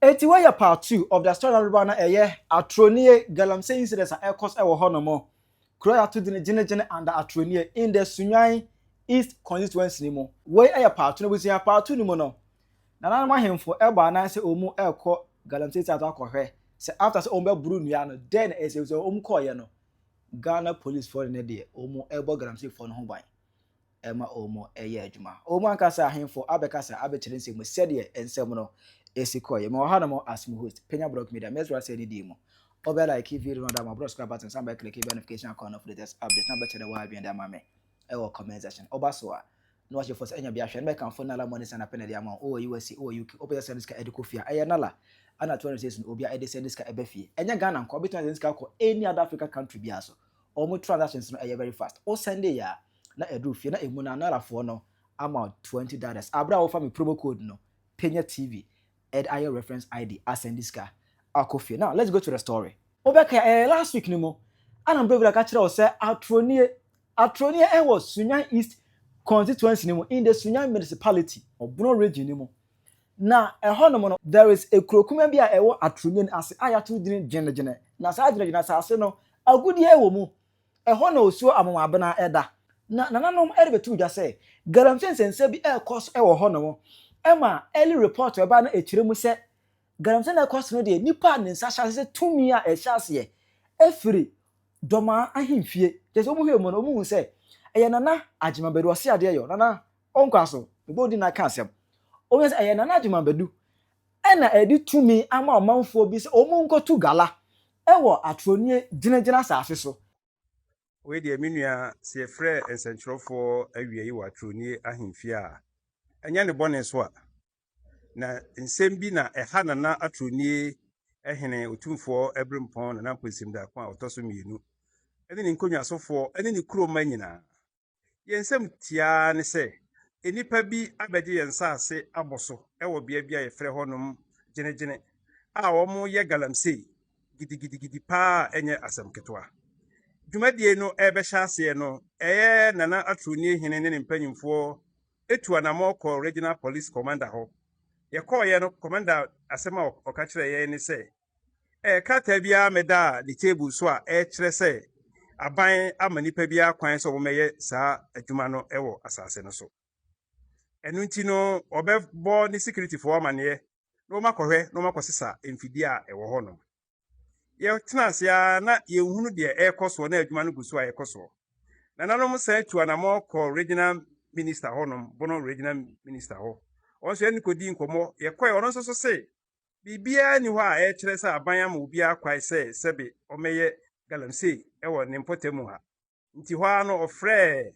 Enti wɔyɛ part two of the story dodoɔ no ɛyɛ atoro nie galamsey incidents a ɛkɔ so wɔ hɔ nom. Kuro a yɛato din Gyene Gyene under Atoro nie in the Sunyani East Constituency no mu. Wei yɛ part two no abusua. Part two no mu no, nananom ahemfo bɔ anan sɛ wɔn rekɔ galamsey site hɔ akɔhwɛ sɛ after sɛ wɔn bɛboro nnua no dɛn na ɛsɛ sɛ wɔn kɔɔyɛ no. Ghana policefoɔ ne ne deɛ wɔn rebɔ galamseyfoɔ no ho ban. ɛma wɔyɛ adwuma. Wɔn ankasa ahemfo abɛkasa abɛkyerɛ nsɛm sɛdeɛ nsɛm no si kɔeɛ. Mewɔ hanom as mo host, Penya Blog Media. Mɛsrɛ wo sɛ di dii mu. Wobɛ like video no de ama bro subscribe button san bɛ click bɛ notification icon no for latest updates na bɛkyerɛ w'adwene de ama me ɛwɔ comment section. Woba so a na wahyɛ fo sɛ ɛnya bi ahwɛ no bɛkamfo Nala Money Send Apɛ na de ama wo wɔ USA, wɔ UK, wopɛ sɛ send sika ɛde kɔ fie a ɛyɛ Nala ɛna 200 cedis no obia ɛde send sika ɛba fie. Ɛnyɛ Ghana nko, wobɛtumi asend sika akɔ any other Africa country biara so. Wɔn transactions no ɛyɛ very fast. Wo sɛnde yɛ a na ɛduru fie na ɛmu no Anara foɔ no ama wo twenty dollars. Aberɛ a wofa me promo code no Penya TV ɛde ayɛ reference ID asɛnde sika akɔ fie. Now let's go to the story. Wobɛkae ɛyɛ last week no mu a na Mprevila ka kyerɛ wo sɛ atoro nie. Atoro nie ɛwɔ Sunyani East constituency no mu in the Sunyani municipality, Obno region no mu. Na ɛhɔnom no, there is a kuro kumaa bi a ɛwɔ atoro nyin ase a yɛato din Gyene-gyene. Na saa gyene-gyene asase no, agudeɛ wɔ mu. Ɛhɔ na osuo amomoabena da. Na nananom rebɛto dwa sɛ, galamsey nsɛnsɛm bi rekɔ so wɔ hɔnom. Ɛma early report a ɛbaeɛ no ɛkyerɛ mu sɛ, galamsey no a ɛrekɔ so no deɛ, nnipa a ne nsa hyɛ ase sɛ tumi a ɛhyɛ aseɛ firi Dɔmaa ahemfie. Kyerɛ sɛ wɔhwɛɛ mu no, wɔhuu sɛ ɛyɛ Nana Agyemang Badu Ɔseadeɛyɔ, Nana Ɔnkwa so, mebɔ din na aka asɛm. Ɔbɛka sɛ, ɛyɛ Nana Gyimah Badu na ɛde tumi ama ɔmanfoɔ bi sɛ wɔnkɔtu gala wɔ Atorɔnie gyinagyina asase so. Wei deɛ, me nua, sɛ yɛfrɛ nsɛntwerɛfoɔ awia yi wɔ Atorɔnie ahemfie a, ɛnyɛ ne bɔne so a. Na nsɛm bi na ɛha Nana Atorɔnie Hene Otumfoɔ Abirimpɔn Nana Mponsim Darko a ɔtɔ so mmienu ne ne nkonnwasofoɔ ne ne kuromma nyinaa. Yɛn nsɛm tiaa ne sɛ nnipa bi abɛgye yɛn nsase abɔ so wɔ bea bi a yɛfrɛ hɔnom Gyenegyene a wɔyɛ galamsey gidigidigidi paa a ɛnyɛ asɛm ketewa. Dwumadie no rebɛhyɛ aseɛ no, ɛyɛ Nana Atuonye Hene ne ne mpanyimfoɔ tu anammɔn kɔɔ Regional Police Commander hɔ. Yɛkɔeɛ no, Commander asɛm a ɔka kyerɛɛ yɛn ne sɛ, Ɛyɛ krataa bi ara mɛdaa ne table so a ɛkyerɛ sɛ aban ama nnipa biara kwan sɛ wɔmmɛyɛ saa adwuma no wɔ asase no so. Ɛno nti no, wɔbɛbɔ ne sikiritifoɔ amanneɛ na wɔakɔhwɛ na wɔakɔsesa mfidie a ɛwɔ hɔ no. Yɛtena ase ara na yɛnhunu deɛ ɛrekɔ soɔ na adwuma no gu so a ɛkɔ soɔ. Nananom san tu anammɔn kɔɔ regional minister hɔnom, Bono regional minister hɔ. Wɔn nso yɛne no kɔdii nkɔmmɔ. Yɛkɔɛ, ɔno nso so se biribiara nni hɔ a ɛrekyerɛ sɛ aban ama obiara kwae sɛ sɛbe ɔmmɛyɛ galamsey wɔ ne mpɔtam mu ha. Nti hɔ ara no ɔfrɛɛ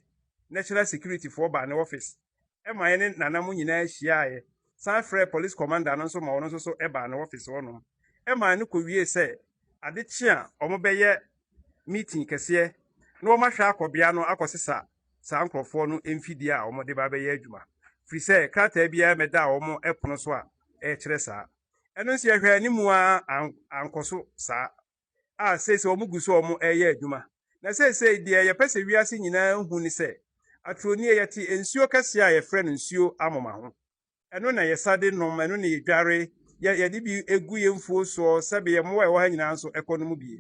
National Security foɔ baa ne office ma yɛne Nana mo nyinaa hyiaaɛ, san frɛɛ Police Commander no nso ma ɔno nso so baa ne office hɔ nom ma ɛno kɔwiee sɛ ade kye a wɔbɛyɛ meeting kɛseɛ na wɔahwɛ akɔ bea no akɔsesa saa nkorɔfoɔ no mfidie a wɔde ba bɛyɛ adwuma, firi sɛ krataa biara mmɛdaa wɔn ɛpono so a ɛkyerɛ saa. Ɛno nso yɛhwɛɛ anim ara ankɔ so saa, a seesei wɔn gu so a wɔn ɛreyɛ adwuma. Na seesei deɛ yɛpɛ sɛ wiase nyinaa hu ne sɛ, aturo nie yɛte nsuo kɛseɛ a yɛfrɛ no nsuo amoma ho. Ɛno na yɛsa de nom, ɛno na yɛdware, yɛ, yɛde bi gu yɛn mfuo soɔ, sɛbe yɛn mmoa a ɛwɔ ha nyinaa nso kɔ nom bi.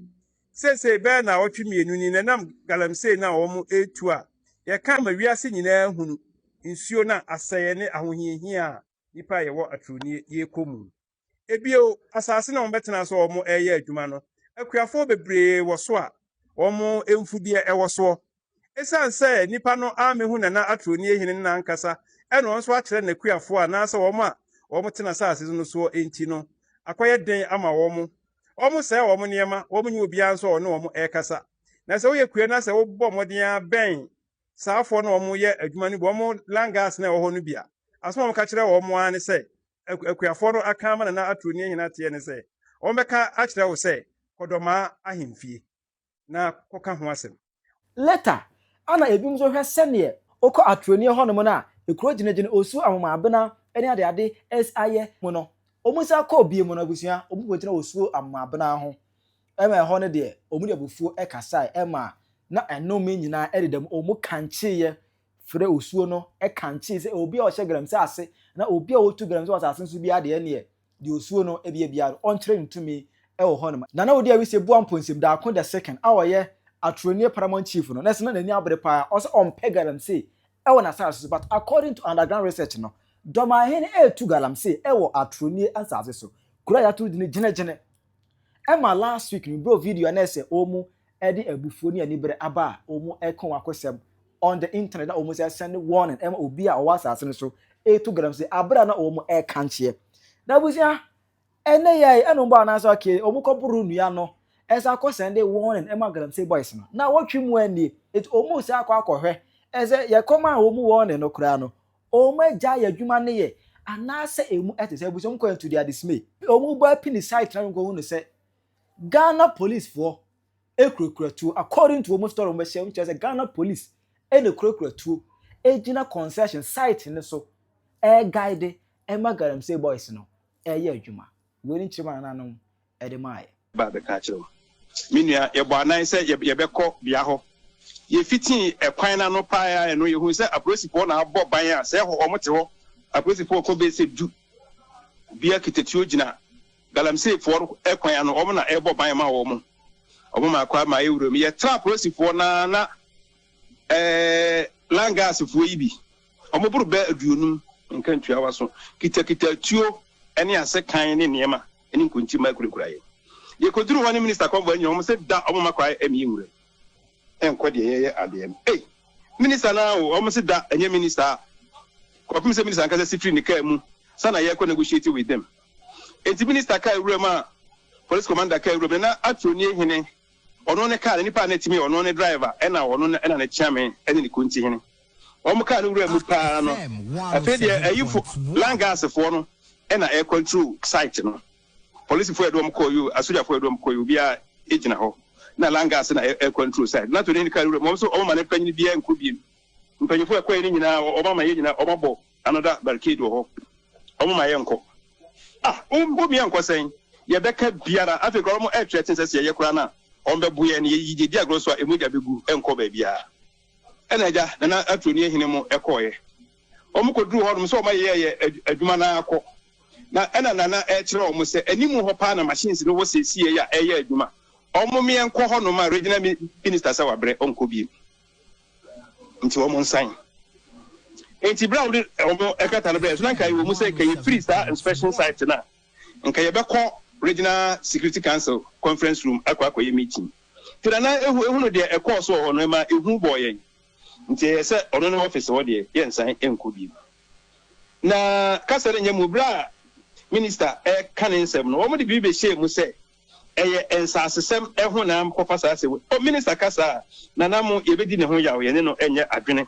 Seesei bɛyɛ nnawɔtwe mmienu ni na ɛnam galamsey no a wɔretu a yɛka ma wiase nyinaa hunu nsuo no a asɛeɛ ne ahohiahia a nnipa a yɛwɔ atorɔnie rekɔ mu. Bio, asase no a wɔbɛtena so a wɔreyɛ adwuma no, akuafoɔ bebree wɔ so a wɔn mfudeɛ wɔ soɔ. Esiane sɛ nnipa no ammɛhu Nana Atronie Hene no n'ankasa na wɔn nso akyerɛ n'akuafoɔ anaasɛ wɔn a wɔtena asase no soɔ nti no, akɔyɛ den ama wɔn. Wɔsɛe wɔn nneɛma, wɔnyɛ obiara nso a ɔne wɔn rekasa. Na sɛ woyɛ kua no a, sɛ wobɔ mmɔden ara bɛn saafoɔ no a wɔyɛ adwuma no bi, wɔn langas no a ɛwɔ hɔ no bi a, asɛm a wɔka kyerɛ wɔn ara ne sɛ, akuafoɔ no aka ama Nana Aturo ne Ahina Ateɛ ne sɛ, wɔbɛka akyerɛ wo sɛ kɔdɔmaa ahemfie na kɔka ho asɛm. Leta, Ana ebinom nso hwɛ sɛdeɛ wokɔ Aturonie hɔnom no a ekuro gyinagyina osuo Amomaabena ne adeade saeɛ mu no, wɔn san kɔɔ bio mu no abusua wɔn kɔgyina osuo Amomaabena ho ma ɛhɔ no deɛ wɔn de abufuo kasaeɛ ma na ɛnome nyinaa dedam wɔn kankyeeɛ Frɛ osuo no kankyee sɛ obi a ɔhyɛ galamsey ase na obi a ɔtu galamsey wɔ asase no so biara deɛ ɛneɛ deɛ osuo no beyɛ biara no ɔnkyerɛ no tumi wɔ hɔ nom. Nana Odi Awise Boa Mponsim Daako the second a ɔyɛ Atronie Paramount Chief no na ɛsɛ na n'ani abere paa ɔsɛ ɔmpɛ galamsey wɔ n'asase so but according to underground research no Dɔmanhene retu galamsey wɔ Atronie asase so kuro a yɛato dini Gyene-gyene ɛma last week no bro video a na ɛsɛ wɔn de abufuo ne anibere aba a wɔn ɛko wakosɛm on the internet na wɔn sɛ send warning ɛma obi a ɔwɔ asase no so etu galam sɛ abere a na wɔn ɛka nkyeɛ na abusua ɛnɛ yɛ yi ɛna wɔn bɔ anaasɛ ɔkee wɔn kɔ boro nnua no ɛsɛ akɔ send warning ɛma galamsey boys no na wɔtwe mu ɛnie eti wɔn sɛ akɔ akɔhwɛ ɛsɛ yɛ kɔm a wɔn warning no koraa no wɔn agya yɛ adwuma ne yɛ anaasɛ emu ɛte sɛ abusua wɔn kɔ ɛntu di adesime wɔn bɔ apini site na wɔn kɔ hu no sɛ Ghana police foɔ. kurakura tuo according to wɔn story wɔn bɛhyɛ wɔn kyerɛ sɛ Ghana police ɛna kurakura tuo ɛgyina concession site no so ɛɛ guide ɛma galamsey boys no ɛɛyɛ adwuma wei ne nkyerɛma nananom ɛde maa yɛ. Ba bɛka akyerɛ wo. Me nua, yɛbɔ anan sɛ yɛbɛkɔ bea hɔ. Yɛfitii ɛkwan no ano paa no, yɛhuu sɛ apolisifoɔ na abɔ ban a sɛ hɔ wɔte hɔ. Apolisifoɔ kɔ bɛyɛ sɛ du. Obiara kita tuo gyina. Galamseyfoɔ no kwan ano, wɔn na ɛbɔ ban ma wɔn. Wɔn ma kwan ma ewura mu. Yɛtra apolisifoɔ no ara na ɛɛ langaasfoɔ yi bi, wɔboro bɛ aduonum, nka ntua w'aso, kitakita atuo ne asekan ne nneɛma ne nkontimma kurakura yɛn. Yɛkɔduruu hɔ ne Minista Convoy nyinaa, wɔn se da wɔn ma kwan ma yɛnwura mu, ɛnkɔ deɛ yɛyɛ adeɛ no. Ei! Minista no ara o, wɔn se da, ɛnyɛ Minista a. Kɔpem sɛ Minista ankasa si firi ne kaa mu, sa na yɛkɔ negotiate with them. Enti minista kaa wuram a polis kɔmanda kaa wuram, na na atoro nie hene, ɔno ne kaa no nipa a na etumi yɛ ɔno ne driver, ɛna ɔno na ɛna ne kyeame ɛne ne kunti hene. Wɔn kaa no wuram mu paa no, afei deɛ ayifo, langas foɔ no ɛna ɛɛ control site no. Polis foɔ ɛde wɔn kɔɔ yoo, asogya foɔ ɛde wɔn kɔɔ yoo, obia egyina hɔ, na langas na ɛɛ control site no. Atoro nie hene kaa wuram, wɔn nso wɔn ma ne mpanyini biaa nkɔ biem. Mpanyinfoɔ ɛkɔɛ no nyinaa wɔn ama yɛn nyinaa wɔn abɔ Another barricade wɔ hɔ wɔn mma yɛn nkɔ ah wo wo mia nkɔ sɛn yɛ bɛ ka biara afei kora wɔn ɛɛtwerɛ ten sɛ sɛ yɛ yɛ kora na wɔn bɛ bo yɛ ne yɛ yɛ di agorɔ so a emu gya bɛ gu ɛnkɔ bɛ biara ɛna agya nana aturo ni ɛhene mo ɛkɔɔ yɛ wɔn kɔ duru hɔ nom sɛ wɔn ayɛ yɛ adwuma na akɔ na ɛna nana ɛɛkyerɛ wɔn sɛ ɛnimu hɔ paa na machines no wɔ sɛ esi yɛ yɛ a ɛɛyɛ adwuma wɔn mia nkɔ hɔ nom a regional minister sɛ wabrɛ wɔn kɔ biem. nti wɔn nsan. Nti bere a wɔde wɔn ɛkata no brɛ so na nka ɛwɔ mu sɛ nka yɛfiri saa inspection site no a nka yɛbɛkɔ regional security council conference room akɔ akɔyɛ meeting nti na na ehu ehunu deɛ ɛkɔɔ so wɔ hɔ no ɛma ehu bɔɔ yɛn nti ɛyɛ sɛ ɔno ne office hɔ deɛ yɛnsan nkɔ bi na kasa no nyɛ mu bere a minister ɛka ne nsɛm no wɔn de biribi bɛhyɛɛ mu sɛ Ɛyɛ nsasesɛm ho na mekɔfa saa asɛm yi. O, Minister ka saa a, Nana Mo, yɛbɛdi ne ho yaw, yɛne no nyɛ adwene.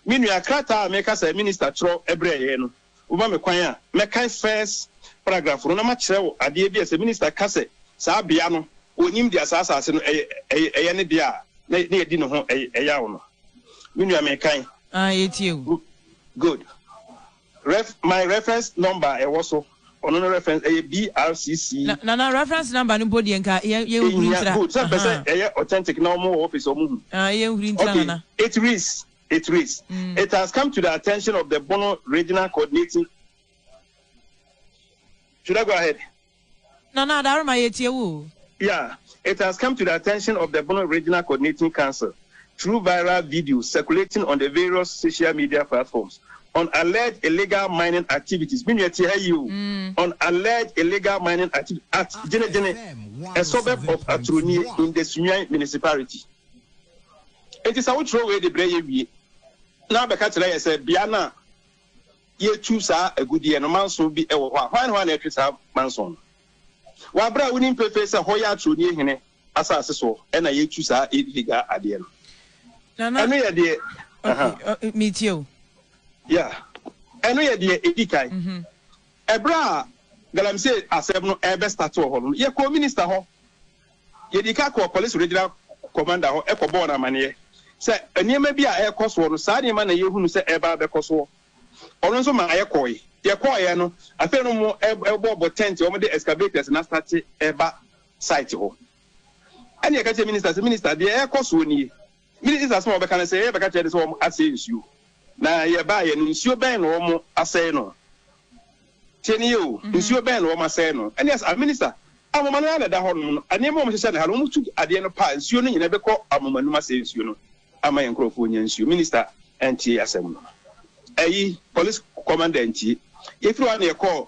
Me nua, krataa a meka sɛ Minister twerɛ brɛɛ yɛn no, woma me kwan a, mɛkan first paragraph no na makyerɛ wo adeɛ bi a sɛ Minister ka sɛ saa bea no, ɔnim deɛ saa asase no yɛ ne dea a, na yɛadi ne ho yaw no. Me nua, mekan. Aye, yɛtie wo. Good. Ref, My reference number a ɛwɔ so, ɔno no reference, ɛyɛ BRCC. Na Nana, reference number no mpo deɛ nka yɛn yɛn nhuri Ɛhia, ntira. good, sɛ mpɛ sɛ Ahaa. ɛyɛ authentic na wɔn wɔ office a wɔn hu. Ah, yɛn nhuri ntira Okay, Nana. it reads, it reads, It has come to the attention of the Bono Regional Coordinating Should I go ahead? Nana Adaroma yɛtie wo o. Yeah, it has come to the attention of the Bono Regional Coordinating Council through viral videos circulating on the various social media platforms on alleged illegal mining activities, me nua tie ha yie o, on alleged illegal mining activities at Gyene Gyene, a suburb of Aturonie in the Sunyani Municipality. Enti sɛ wotwerɛ wei de brɛ yɛ wie na abɛka kyerɛ yɛ sɛ bea no a. yɛtu saa agudeɛ no, manso bi wɔ hɔ a, hwan ne hwan na ɛtwe saa manso no? Wɔ aberɛ a wonim pefee sɛ hɔ yɛ atorɔdie hene asase soɔ ɛna yɛtu saa illegal adeɛ no. Nana, ɛno yɛ deɛ, okay, uh, uh, metie o. Yeah, ɛno yɛ deɛ ɛdi kan. Mm -hmm. Ɛberɛ a galamsey asɛm no ɛbɛ start wɔ hɔ no, yɛkɔɔ minister hɔ, Yɛdii kan kɔɔ Police Regional Commander hɔ kɔbɔɔ no amanneɛ sɛ nneɛma bi a ɛrekɔ soɔ no, saa nneɛma na yɛhunu sɛ ɛreba abɛkɔ soɔ. Ɔno nso maa yɛkɔɔe. Yɛkɔɔeɛ no, afei no wɔrebɔbɔ tɛnte, wɔde excavators no astate reba site hɔ. Ɛnna yɛka kyerɛɛ Minister sɛ, Minister, deɛ ɛrekɔ soɔ nie. Mede Esau asɛm a wɔbɛka no sɛ yɛrebɛka kyerɛ ne sɛ wɔasɛe nsuo, na yɛbaeɛ no, nsuo bɛn na wɔasɛe no? Tie no yie o, nsuo bɛn na wɔasɛe no? Aeneas, Ah, Minister, ahoma no ara na ɛda hɔnom no, nneɛma a wɔhyehyɛ no ha no, wɔtu adeɛ no pa a, nsuo no nyinaa bɛkɔ ahoma no mu asɛe nsuo no ama yɛn nkurɔfoɔ anya nsuo. Minister antie asɛm no. Ayi, Police Commander antie. Yɛfiri hɔ ara na yɛkɔɔ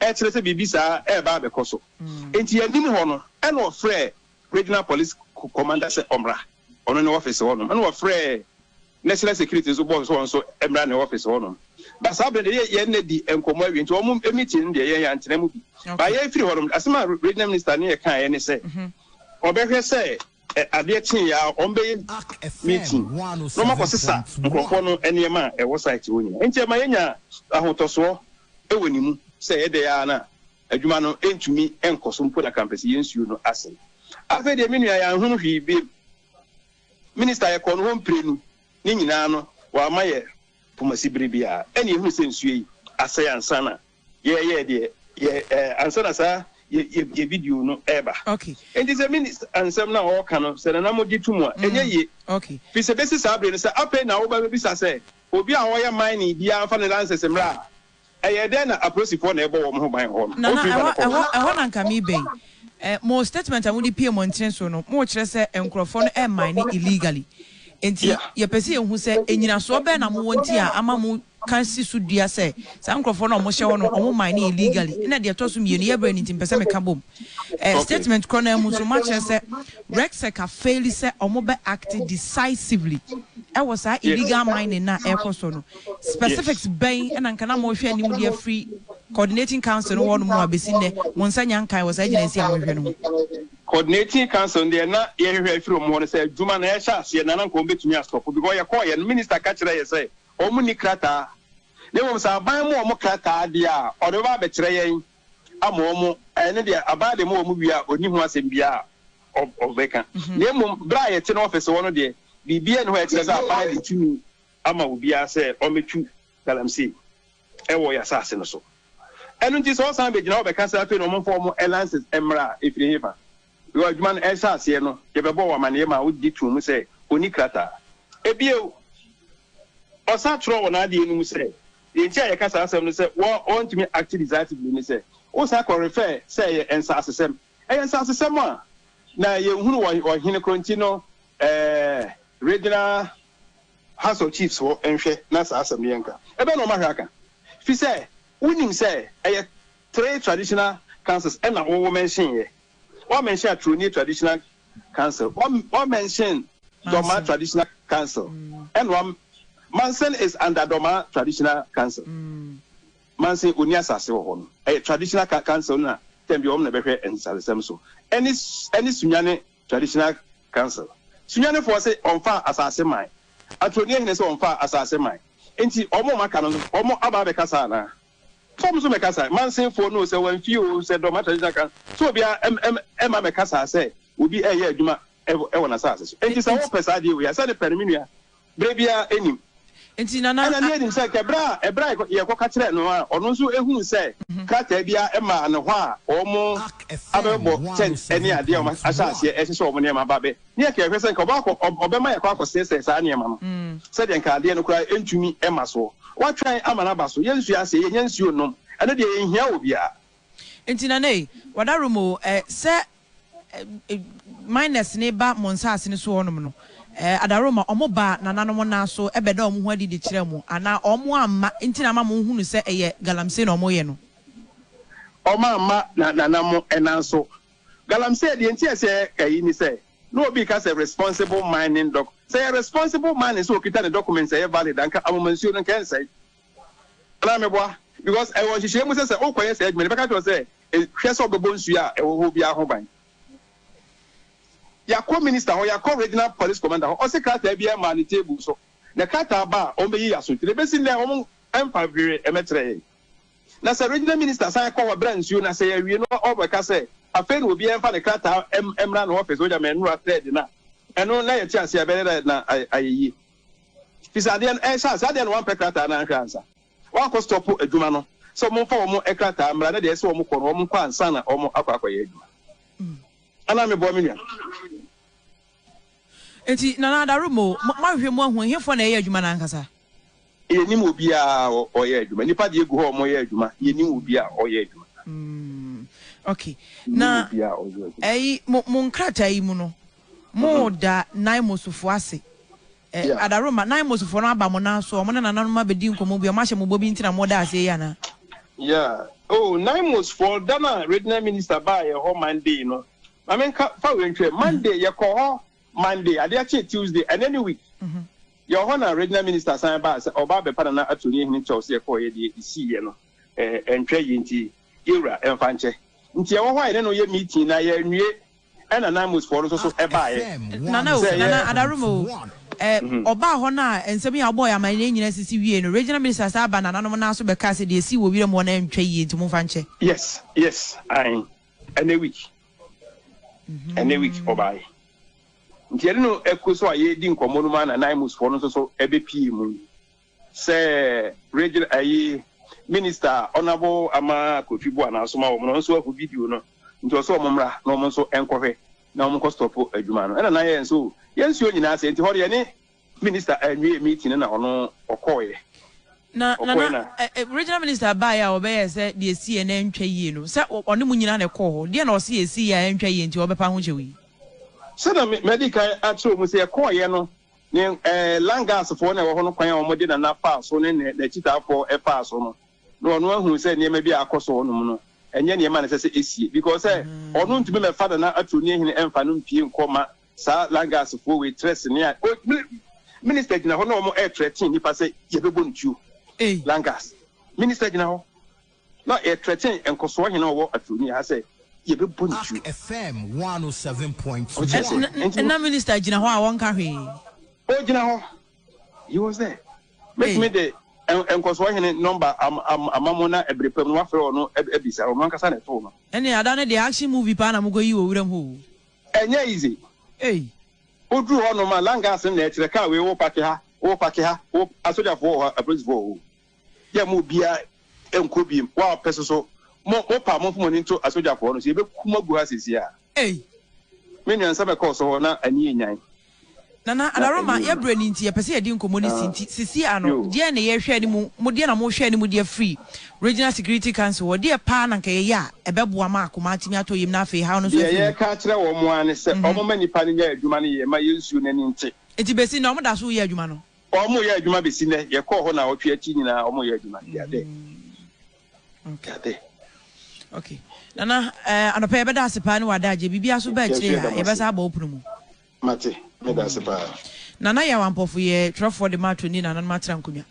ɛkyerɛ sɛ biribi saa reba abɛkɔ so. Enti anim hɔ no, ɛnna wɔfrɛɛ Regional Police Commander sɛ ɔmmra, ɔno ne ɔfese hɔnom. Ɛnna wɔfrɛɛ National Security nso bɔɔ no sɛ ɔno nso mmra ne ɔfese hɔnom. Ba saa berɛ no deɛ, yɛn nna di nkɔmmɔ awie, nti wɔn meeting no deɛ, yɛn yɛantena mu bi. Ba yɛrefiri hɔnom, asɛm a Regional Minister ne yɛkaeɛ ne sɛ, ɔbɛhwɛ sɛ. Ɛ adeɛ kyeeɛ ara wɔn bɛ yɛ meeting na wɔn akɔ sesa nkorɔfoɔ no nneɛma a ɛwɔ site hɔ nyinaa nti ɛma yɛ nya ahotɔsoɔ wɔ ne mu sɛ ɛdɛɛ ara na adwuma no ntumi nkɔ so mpo na kra mpɛ sɛ yɛ nsuo no asɛe afei deɛ me nua yɛ anhunu hwee biom minister yɛ kɔɔ no hɔ mprenu ne nyinaa no wama yɛ pomasi bere biara ɛne yɛ hunu sɛ nsuo yi asɛe ansa na Yɛ yɛ deɛ yɛ ɛɛ ansa na saa yɛ yɛ yɛ video no ɛɛba. Okay. Enti sɛ mini ansɛm na ɔɔka no sɛ nana mo gye tum a ɛnyɛ mm. yie. Okay. Fi sɛ besi saa bere no sɛ afei na wo ba bɛ bisa sɛ obi a ɔɔyɛ mining biara nfa ne lances mmra a ɛyɛ dɛn na aprosifoɔ na ɛɛbɔ wɔn ho ban wɔ hɔ no. Nana ɛhɔ ɛhɔ ɛhɔ na nka me bɛ yi. Eh, mo statement a mo de pie mɔntene so no mo kyerɛ sɛ nkorɔfoɔ no ɛɛ mine illegally. Enti yeah. yɛ pɛ sɛ yɛ hu sɛ enyinasoɔ bɛɛ na mo wɔ nti a ama mo Ka si so dua sɛ saa nkurɔfoɔ no a wɔhyɛ hɔ no wɔn mine no yɛ legally ɛna deɛ ɛtɔ so mmienu yɛ berɛ no nti mpɛ sɛ meka bom ɛɛ statement korɔ no ara mu nso moakyerɛ sɛ RegSec a faili sɛ wɔn bɛ acte decisively ɛwɔ saa illegal mining no a ɛrekɔ soɔ no specifics bɛn ɛna nka na morehwɛ anim de afiri coordinating council no hɔ nom a bɛsi nnɛ mo nsa nya nkae wɔ saa gyinaesi a morehwɛ no ho. Coordinating council no deɛ na yɛhwehwɛ afiri wɔn hɔ no sɛ adwuma no ɛrehyɛ aseɛ na na nka wɔn bɛtumi asɔpo because yɛkɔɔeɛ no minister ka kyerɛɛ yɛn sɛ Wɔnni krataa, na mmom sɛ aban ma wɔn krataa deɛ a, wɔde bɛba abɛkyerɛ yɛn ama wɔn. Ɛno deɛ, aban de ma wɔn wie a, ɔnni ho asɛm biara a ɔbɛka. Na mmom, berɛ a yɛte ne ɔfese hɔ no deɛ, biribiara nni hɔ a ɛkyerɛ sɛ aban adi tumi ama obiara sɛ ɔmmɛtu galamsey wɔ yɛn asase no so. Ɛno nti, sɛ wɔsan bɛgyina hɔ bɛka sɛ afei na wɔmfa wɔn lances mmra a, ɛfiri hefa? Bere a adwuma no rehyɛ aseɛ no, yɛbɛbɔɔ wo amanneɛ maa wogye too mu sɛ ɔnni krataa. Bio, ɔsan twerɛɛ wɔ n'adeɛ no mu sɛ, Deɛ nti a yɛka saa asɛm no sɛ wo a wɔntumi act decisively ne sɛ wosan kɔ refer sɛ ɛyɛ nsaasesɛm. Ɛyɛ nsaasesɛm a na yɛnhunu wɔ ɔhene korɔ nti no ɛɛ Regional House of Chiefs hɔ nhwɛ na saa asɛm no yɛnka. Ɛbɛn na wɔahwɛ aka? Ɛfiri sɛ wonim sɛ ɛyɛ. Three traditional councils na wo mention yɛ. Wa mention Atronye traditional council, wa mention Dormaa traditional council, ɛna wa Mansen is under Dormaa traditional council. Mansen ɔnni asase wɔ hɔ no. Ɛyɛ traditional council no na tɛm biara wɔn na bɛhwɛ nsasesɛm so. Ɛne ɛne Sunyane traditional council. Sunyanefoɔ se wɔnfaa asase mae. Atronye hene se wɔnfaa asase mae. Nti wɔn a wɔaka no no wɔn aba abɛkasa anaa? Fam so mɛkasa, Mansin foɔ no o, sɛ wɔn fie o, sɛ dɔm atradisyon aka no, sɛ obia ɛma mɛkasa sɛ obi ɛyɛ adwuma ɛwɔ nasaase so. Ɛnti sɛ wopɛ saa adeɛ wei a, sɛ ne pɛ no me nua, berɛ biara ɛnim. Ɛna ne ɛnim sɛ kɛ berɛ a ɛberɛ a yɛkɔ ka kyerɛɛ no a, ɔno nso ɛhuu sɛ krataa biara ɛmaa no hɔ a wɔn abɛbɔ tent ɛne adeɛ a wɔn ahyɛ aseɛ ɛsesɛ wɔn nneɛma aba bɛ. Ne yɛka yɛhwɛ sɛ nka ɔbɛakɔ, ɔ, ɔbɛma yɛakɔ akɔsɛɛsɛɛ saa nneɛma no, sɛdeɛ nka adeɛ no koraa ntumi mma soɔ. Watwɛn ama no aba so. Yɛnsua aseɛ, yɛnnya nsuo nnom. Ɛno deɛ, yɛnhia obiara. Enti nanei, wadarom o, ɛ, sɛ, ɛ, ɛ, miners no reba mo nsaase no so hɔnom no, ɛ, adarom a, wɔbaa nananom nan so bɛdaa wɔn ho adi de kyerɛɛ mo, anaa wɔamma nti na ama monhunu sɛ ɛyɛ galamsey na wɔreyɛ no? Wɔamma na, nana mo nan so Galamsey deɛ nti a ɛsɛ ka yi ne sɛ na obi reka sɛ responsible mining doc sɛ ɛyɛ responsible mining sɛ okita ne documents a ɛyɛ valid a nka Amoma nsuo no nka ɛnsɛe anaa meboa because ɛwɔ nhyehyɛɛ mu sɛ sɛ wokɔyɛ saa adwuma no bɛka kyerɛ sɛ hwɛ sɛ ɔbɛbɔ nsuo a ɛwɔ hɔ biara ho ban yɛakɔ minister hɔ yɛakɔ regional police commander hɔ ɔse krataa biara maa ne table so na krataa ba a wɔn bɛyi yɛ aso nti na ebesi nnɛ wɔn mfa hwee ɛmɛkyerɛ yɛn. Na sɛ Regional Minister san kɔ hɔ bra nsuo na sɛ yɛwie no ɔbɛka sɛ afei na obiara mfa ne krataa mmra ne office wogya me nnora third no a ɛno na yɛte aseɛ a ɛbɛyɛ dɛ na ayɛ yie firi sɛ adeɛ no ɛrehyɛ aseɛ adeɛ na wɔampɛ krataa no anhwɛ ansa wɔakɔ stop adwuma no sɛ wɔmfa wɔn krataa mmra na deɛ ɛsɛ wɔn kɔ no wɔn nkɔ ansa na wɔn akɔ akɔyɛ adwuma ana mebɔ me nua Enti Nana Adaro mo, moahwehwɛ mu ahu ɛhefoɔ na ɛyɛ adwuma no ankasa? Yɛnnim obiara a ɔyɛ adwuma. Nnipa deɛ gu hɔ a wɔyɛ adwuma, yɛnnim obiara a ɔyɛ adwuma. Ok, na ɛyi, mo, mo nkrataa yi mu no, moda Naimosfoɔ ase. Ɛ, Adaro mma, Naimosfoɔ no aba mo nan so, wɔn ne nananom abɛdi nkɔmmɔ bi, wɔahyɛ mo bɔ bi nti na moda aseɛ yi anaa? Yeah, oh, Naimosfoɔ, da no a Regional Minister baa yɛn hɔ Monday no, Ma me nka fa wei ntwerɛ. Monday yɛ kɔ hɔ Monday adeɛ kye Tuesday ɛnɛ ne week yɛ wɔ hɔ na regional minister san baa sɛ ɔba abɛpa nana attorney hene kyɛw sɛ yɛ kɔɔ yɛ deɛ esii yɛ no ɛɛ ɛntwɛ yie nti yɛ wura ɛnfa nkyɛ nti yɛ wɔ hɔ a yɛne no yɛ meeting na yɛ nwie ɛna nan most foɔ no nso so ɛbaa yɛ Nana o, Nana Adarom o, ɛ, ɔbaa hɔ no a nsɛm yi a ɔbɔɔ yɛ amanneɛ nyinaa sisi wiei no, regional minister san baa nananom nan so bɛkaa sɛ deɛ esii wɔ wiram hɔ no ɛntwa yie nti momfa nkyɛ. Yes yes ae. Ɛnɛ week ɛnɛ week ɔbaeɛ nti ɛde no ɛkɔ so a yɛredi nkɔmmɔ no mu a na Naimusfoɔ no nso so ɛbɛpie mu sɛ region ayi minister ɔnabo ama Kofi Boa na asoma wɔn no nso ahu video no nti ɔsɛ wɔn mmra na wɔn nso ɛnkɔhwɛ na wɔn nkɔ stop adwuma no ɛna na yɛn nso yɛn nsuo nyinaa sɛ nti hɔ deɛ ne Minister anwie meeting no na ɔno ɔkɔɔeɛ. Na Nana, regional minister baeɛ a ɔbɛyɛɛ sɛ deɛ ɛsiiɛ no antwa yie no, sɛ ɔne mo nyinaa na ɛkɔɔ hɔ, deɛn na ɔse ɛsiiɛ a antwa yie nti ɔbɛpa ho kyɛw yi? Sɛdeɛ madi kan akyerɛ mo sɛ yɛkɔɔeɛ no, ne Langasfoɔ na ɛwɔ hɔ no kwan a wɔde Nana faa so ne n'akyitaafoɔ faa so no, na wɔn ahunu sɛ nneɛma bi a akɔ so hɔ nom no, ɛnyɛ nneɛma na ɛsɛ sɛ ɛsie. Because sɛ ɔno ntumi mmɛfa Nana Aturo Niahene mfa no mpue nkɔ ma Saa Lagos foɔ wei trɛ sene a o Minister gyina hɔ na wɔn ɛtrɛ ten nipa sɛ yɛbɛbɔ no tuo Lagos Minister gyina hɔ na yɛtrɛ ten nkɔsoɔ hene a ɔwɔ Aturoni ha sɛ yɛbɛbɔ no tuo Wote aseɛ nti no. Na Minister gyina hɔ a ɔnka hwee. Ɔgyina hɔ he was there Mɛtumi de nkɔsoɔ hene number ama mo na ɛbere pa mu no moafrɛ wɔn abisa wɔn ankasa na ɛtoo no. Ɛnneɛ ada no deɛ action movie paa na mokɔyi wɔ wuram hɔ o. Ɛnyɛ easy. Ei. Wo duru hɔ nom a langas no na ɛkyerɛ car wei wo pake ha, wo pake ha, wo asogyafoɔ wɔ hɔ, apolisifoɔ wɔ hɔ o. Yɛ mo obiara nkɔ biem, wa pɛ soso, mo mo pa mo nfa mo ani nto asogyafoɔ no so, yɛbɛku mo agu ha seesie a. Ei. Me nua nsɛm ɛkɔɔ so hɔ na ani yɛ nyan. Nana Ada Roma, yɛ brɛ no nti yɛpɛ sɛ yɛde nkɔmmɔ no si nti sisi a no deɛn na yɛ hwɛ anim mo deɛn na mo hwɛ anim de afiri Regional Security Council hɔ deɛ paa na nka yɛyɛ a ɛbɛboa ma akoma atumi atɔ yam na afei haw no nso afiri mu. Deɛ yɛka akyerɛ wɔn mo ara ne sɛ wɔn ma nipa no nyɛ adwuma no yɛ ma yɛnsuo no ani nte. Nti bɛsi nnɛ wɔn da so yɛ adwuma no? Wɔn yɛ adwuma bɛsi nnɛ, yɛkɔɔ hɔ naawɔtwe akyi nyinaa wɔn yɛ adwuma, deɛ adɛn. Nkade. Okay. Nana, eh, anɔpɛ yɛbɛda ase paa ne wɔ adagye. Biribiara so baa akyire ha, yɛbɛsa abɔ wo pono mu. Mate, meda ase paa. Nana Yaw Ampɔfo yɛ twerɛfoɔ de ma atoni nananom atra nkonnwa.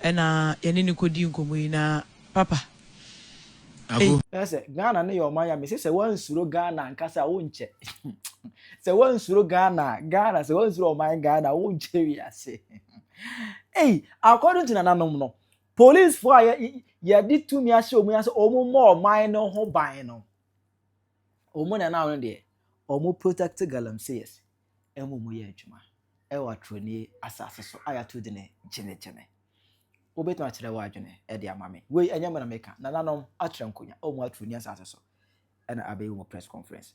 Ɛna yɛne no kɔdi nkɔmmɔ yi na papa. Ago. Kyerɛ sɛ Ghana no yɛ ɔman a mese sɛ woansuro Ghana ankasa a wonkyɛ. Sɛ woansuro Ghana a, Ghana, sɛ woansuro ɔman Ghana a wonkyɛ wiase. Ei, according to nananom no, Polisifo a yɛde tumi ahyɛ wɔn ase wɔn mmɔ ɔman no ho ban no, wɔn na na wɔn deɛ wɔn protect galamseyers ɛmu mu yɛ adwuma ɛwɔ aturoni asase so a yɛato di ne gyinagyina. Wobɛtumi akyerɛ wɔ adwene ɛde ama me. Wei ɛnyɛ mena meka, nananom akyerɛ nkonya wɔn aturoni asase so ɛna abɛyɛ wɔn press conference.